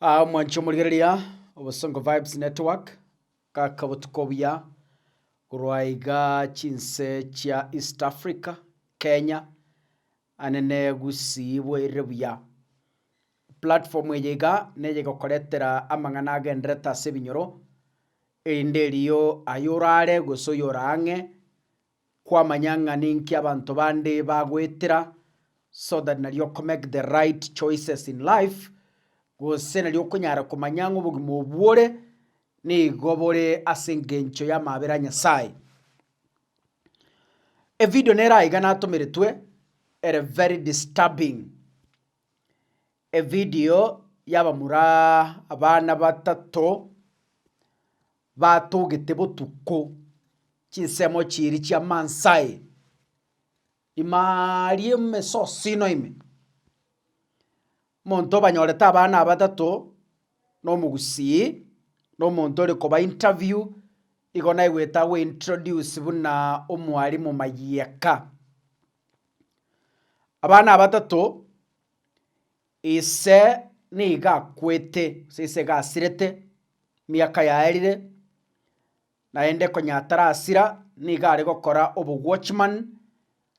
Aa mwanchi omorigereria, obosongo vibes network, kaka botuko buya, korwa iga chinse chia East Africa, Kenya, ande ne Gusii bweirire buya. Platform eye iga, neye egokoretera amang'ana agenderete ase ebinyoro, erinde erio ayorare gose oyorang'e, Kwamanya ng'a ninki abanto bande bagoetera so that nari oko make the right choices in life, gose nari okonyara komanya ng'a obogima obwo ore nigo bore ase engencho y'amabera a Nyasaye. Evideo nere aiga natomeretwe ere very disturbing, evideo y'abamura abana batato Batogete botuko chinsemo chiiri chia Mansae ime aaria emesosino ime. Omonto obanyorete abana abatato na omogusii na omonto ore koba interview igo naigwete agwo introduce buna omwalimu Mayiaka. Abana abatato Ise nigo akwete, gose ise iga asirete, emiaka yaerire, naende konya atarasira, nigo are gokora obowatchman,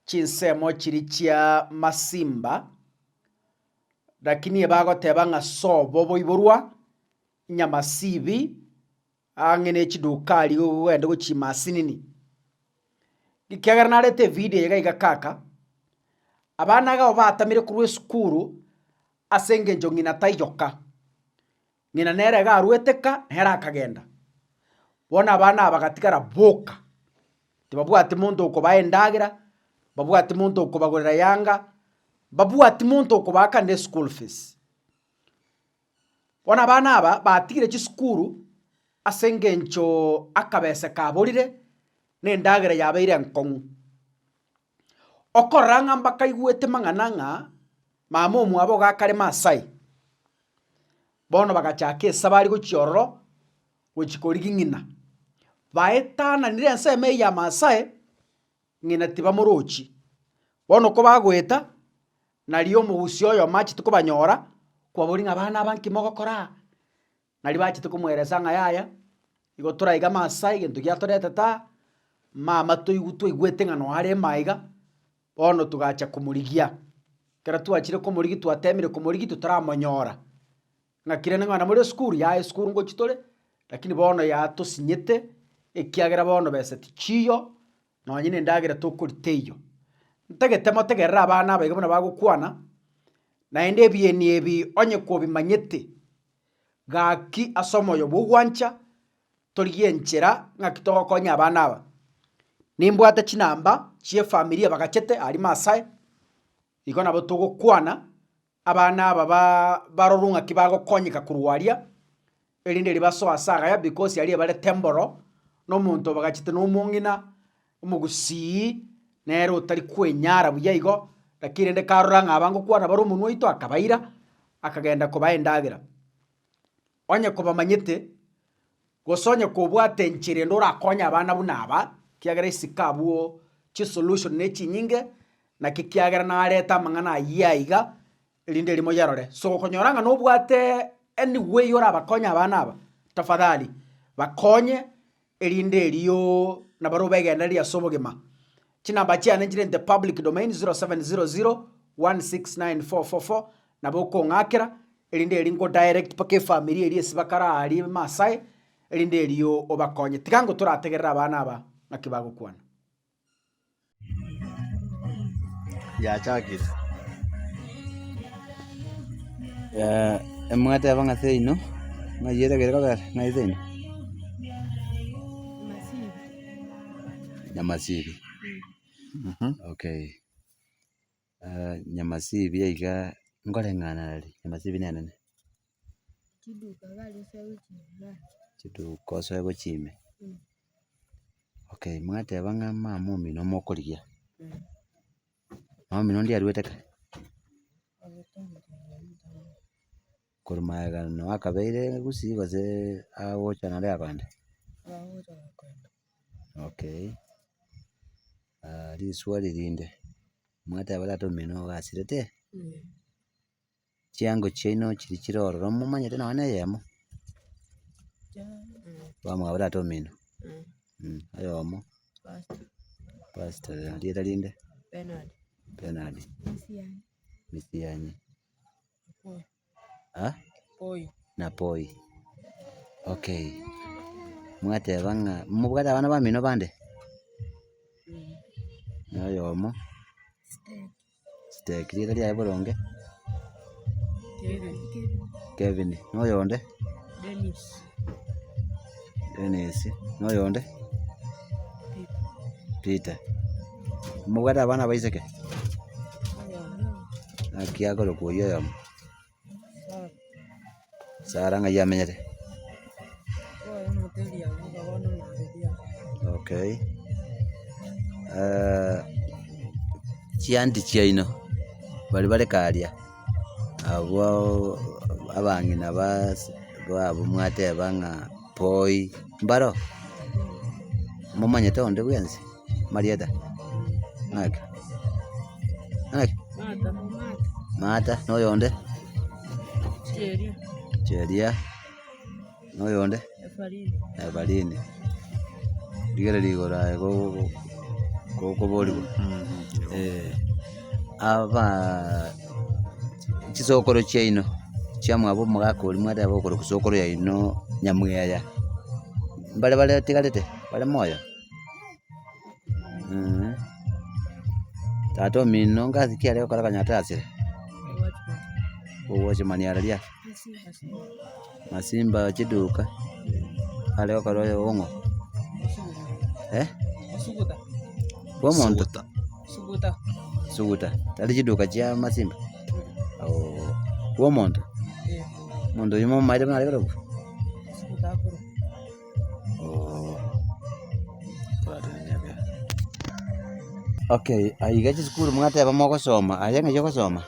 chinsemo chiria chia masimba, rakini ebagoteba ng'a sobo boiborwa, inyamasibi, ang'e ne chidukari gogende gochia chimasinini, ekiagera narete evidio eye gaiga kaka, abana iga nabo batamire korwa esukuru ase eng'encho ng'ina taiyoka, ng'ina nere iga arwete ka nere akagenda. Bono abana aba bagatigara boka, tibabwati monto okobae endagera, mbabwati monto okobagorera yanga, mbabwati monto okobaa kande eschool fees. Bono abana aba batigire chisukuru ase engencho akabese kaborire na endagera yabeire enkong'u. Okorora ng'a mbakaigwete mang'ana ng'a mama omwabo iga akare Maasai, bono bagachaka esaba aria gochia ororo gochia korigia ng'ina. Baetananire ensemo eye ya Maasai, ng'ina tibamorochi. Bono kobagoeta, Nario omogusii oyo machete kobanyora, kwaboria ng'a, Abana aba nki mogokora aa? Nario bachete komoeresa ng'a, Yaya, igo toraige amaaso aa egento giatoretete aa, mama toigw twaigwete ng'a noarema aiga, bono togacha komorigia. Ekero twachire komorigia twateemire komorigia totaramonyora. Ng'aki rende ng'a namore esukuru? Yaya esukuru ngochia tore, lakini bono yatosinyete, ekiagera bono besa tichiiyo, Nonye nendagera tokori teiyo. Ntagete motegerere abana aba iga buna bagokwana, naende ebieni ebi onye kobimanyete, gaki ase omoyo bw'ogwancha torigie enchera ng'aki togokonya abana aba. Nimbwate chinamba chi'efamiri ebagachete aria Maasai, igo nabo togokwana Abana aba ba barorwe ng'aki bagokonyeka korwa aria, erinde riria basoe ase agaya, because aria ebare temboro, na omonto obagachete na omong'ina, omogusii, nere otari kwenyara buya igo, lakini rende karora ng'a aba ngokwana bare omonwa oito akabaira, akagenda kobaha endagera. Onye kobamanyete, gose onye kobwate enchera ende orakonye abana buna aba, kiagera isiko abwo chisolution nechinyinge, naki kiagera narete amang'ana ayio aiga, erinde erimo yerore. So okonyora ng'a nobwate any way orabakonye abana aba, tafadhali bakonye erinde erio nabaria obegendereri ase obogima. Chinamba chiane nchirente public domain 0700169444 nabo okong'akera erinde erio nko direct mpaka efamiri eria esibakare aaria Maasai erinde erio obakonye. Tiga nko torategerere abana aba ng'aki bagokwana. yachakire. Eh, emwateba ng'a seino, ng'ai ere ekero ekobera, ng'ai seino? Masini. Nyamasibi. Mhm. Okay. nyamasibi iga nkore ng'anare, nyamasibi ne nene. Chiduko gari osoe gochia ime. Chiduko osoe gochia ime. Okay, mwateba ng'a mama omino mokorigia. Mama omino ndiaruete kare? Korwa magegani na wakabeire gusii gose agocha nare abande? Agocha nare abande. Okay, riswali rinde, mwateba tata omino ogasirete? Chiango chiaino chiria chire ororo momanyete nonya ne eyemo? Bamwabo tata omino? Oyomo? Pastor rieta rinde? Bernard. Misiani. ha? na poi, okay. Mwateba ng'a mobwate abana bamino bande? Na oyomo? Siteki, riira riaye boronge? Kevin, na oyonde? Dennis, na oyonde? Peter. Mobwate abana abaiseke? Naki akorokwa oyio oyomo? Sarah ng'ai amenyete? Okay. Chianti chiaino, bari bareka aria? Abwo abang'ina babo mwateba ng'a poi mbaro, momanyete onde bwensi marieta? Ng'ake? Ng'ake? Martha. Na oyonde? Cheria. Na oyonde? Efarini. Rigereria igoro aye gokoborigwa. Chisokoro chiaino chiamwabo omogaka oria mwateba okore kosokoro yaino nyamweya, mbare bare batigarete bare moyo? Tata omino ngasi ki aria gokora akonyora tarasire? Owatchman ara riari? Masimba chiduka are okoro oye ong'o eh? Bwa omonto? Suguta. Tari chiduka chia masimba? Oo. Bwa omonto? Omonto oyo momaete buna are korokwa? Oo. Okay, aiga chisukuru mwateba mogosoma, aye ng'ai ogosoma?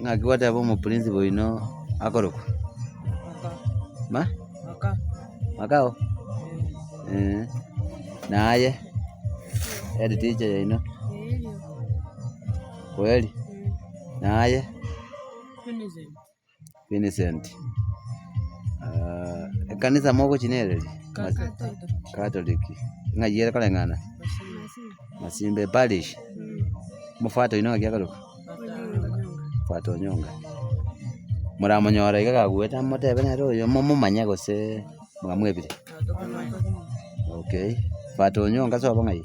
ng'aki goteba omoprincipo oino akorokwa? Ma? Makao? Eeh. Naye? Head teacher yaino? Kweli? Naye? Vincent, ekanisa mogochi nere eri? Catholic, ng'ai ere koreng'ana? Masimbe parish, omofwato oino ng'aki akorokwa? Mofwato Onyonga, moramonyore iga gakuete motebe nere oyo momomanye gose. Mwabo mwebire? Okay. But onyonga ase obo ng'ai?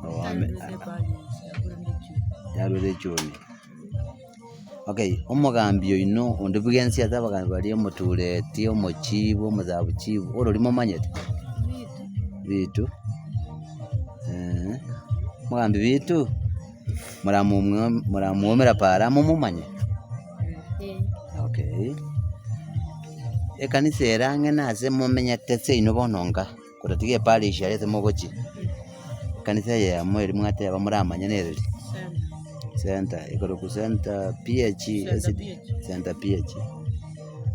Oh, ame- yarwete echumbi. Okay, omogambi oino onde bwensi ase abagambi baria omotureti, omochibu, omosabuchibu, orori momanyete? Bitu. Eeh. Omogambi Bitu? moramomwa moramwomera paara momomanye? Okay. Ekanisa ere ang'e nase momenyete seino bono nka, koratiga eparish aria ase mogochia, ekanisa eyemo eria mwateba moramanye nere ri? Center, ekorokwa center PH ST center PH.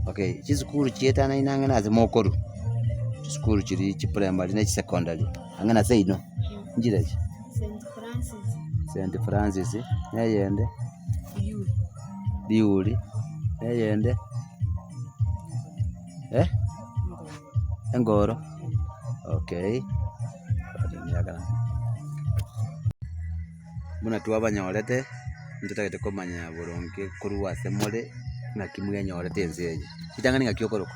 Okay, chisukuru chiatanane ang'e nase mokorwa, chisukuru chiria chipremari na chisecondari. ang'e na seino, enchera echi. Saint Francis. Saint Francis, na eyende. Liyuli. Liyuli, na eyende. Eh? Engoro. Okay. Buna twabanyorete, nitotagete komanya boronge korwa ase more, naki mwenyorete ense eye. Ritang'ani ng'aki okorokwa.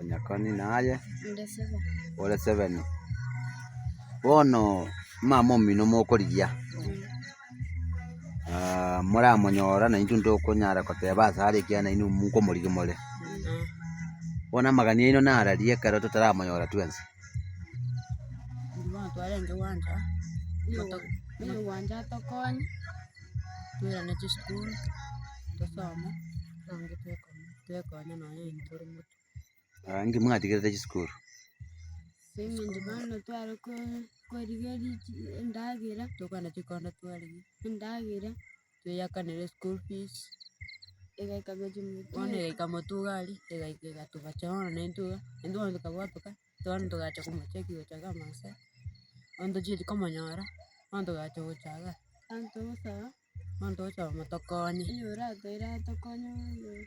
Onyakoni naye Inde sebe. ore seven. Bono omama omino mokorigia ah, moramonyora na intwe ntokonyara koteba ase are ekiagera nainwe mokomorigia more. Bono amagani aino nararia ekero totaramonyora twensi. Bono twarenge gwanja moto- mono gwanja tokonye, toirane chisukuru, tosome, bono intwe tokonywa. twekonya nonya intwe tore motuko. Inki mwatigerete chisukuru? Ase eng'encho bono tware ko- korigeria chi endagera, tokwana chikondo twarigia endagera, tweyakanere school fees, egaika buna chinguru chire. Bono egaika motuga aria, egaika egatobacha bono na intwe iga, na intwe bono tokabotoka, bono togacha komocheki gochaga amasaa, bono tochieti komonyora, bono togacha gochaga. Bono togosaba. monto ocha omotokonya. Oyo oratoire atokonye bono.